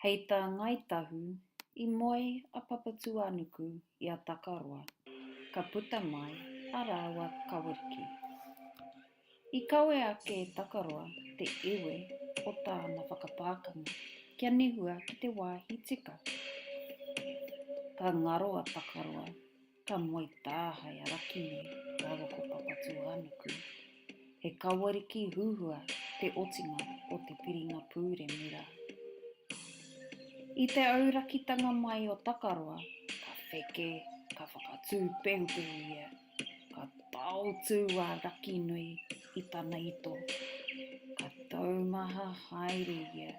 Hei tā Ngāi Tahu, i moe a Papatūānuku i a Takaroa, ka puta mai a rāua kaweriki. I kawe ake e Takaroa te iwi o tāna whakapākanga kia nehua ki te wāhi tika. Ka ngaro a Takaroa Ka moe tāhae a Rakini rāua ko Papatūānuku. He kawariki huhua te otinga o te piringa pūremu rā. I te aurakitanga mai o Takaroa, ka wheke, ka whakatū pehupehu ia, ka taotū a Rakinui i tana ito, ka taumaha haere ia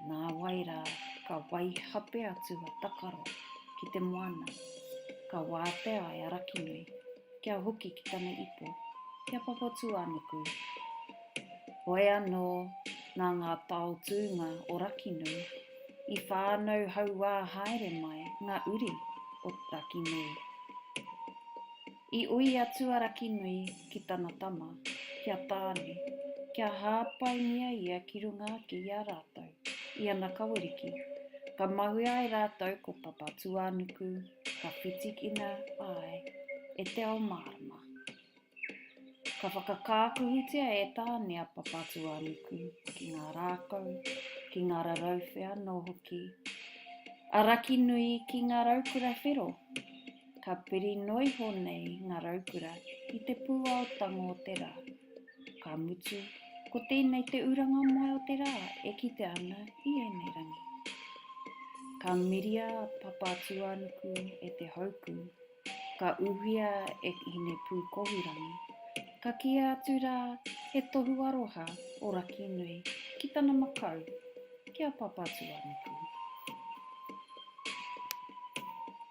Nāwai rā, ka waihape atu a Takaro ki te moana, ka wātea e Arakinui kia hoki ki tana ipo, ki a Papatūānuku. Hoi anō, nā ngā taotūnga o Rakinui, i whānau hauā haere mai ngā uri o Rakinui. I ui a Tuarakinui ki tana tama, ki a Tāne, kia hāpaingia ia ki runga ake i a rātou, i ana kaweriki. Ka mahue ai rātou ko Papatūānuku, ka whitikina ai e te ao mārama. Ka whakakākuhutia e Tāne a Papatūānuku ki ngā rākau, ki ngā rarauwhe anō hoki a Rakinui ki ngā raukura whero. Ka piri noiho nei ngā raukura i te pūao tango o te rā. Ka mutu, ko tēnei te uranga moe o te rā e kite ana i ēnei rangi. Ka miria a Papatūānuku e te hauku, ka uhia e Hinepūkohurangi, ka kīia atu rā he tohu aroha o Rakinui ki tana makau, ki a Papatūānuku.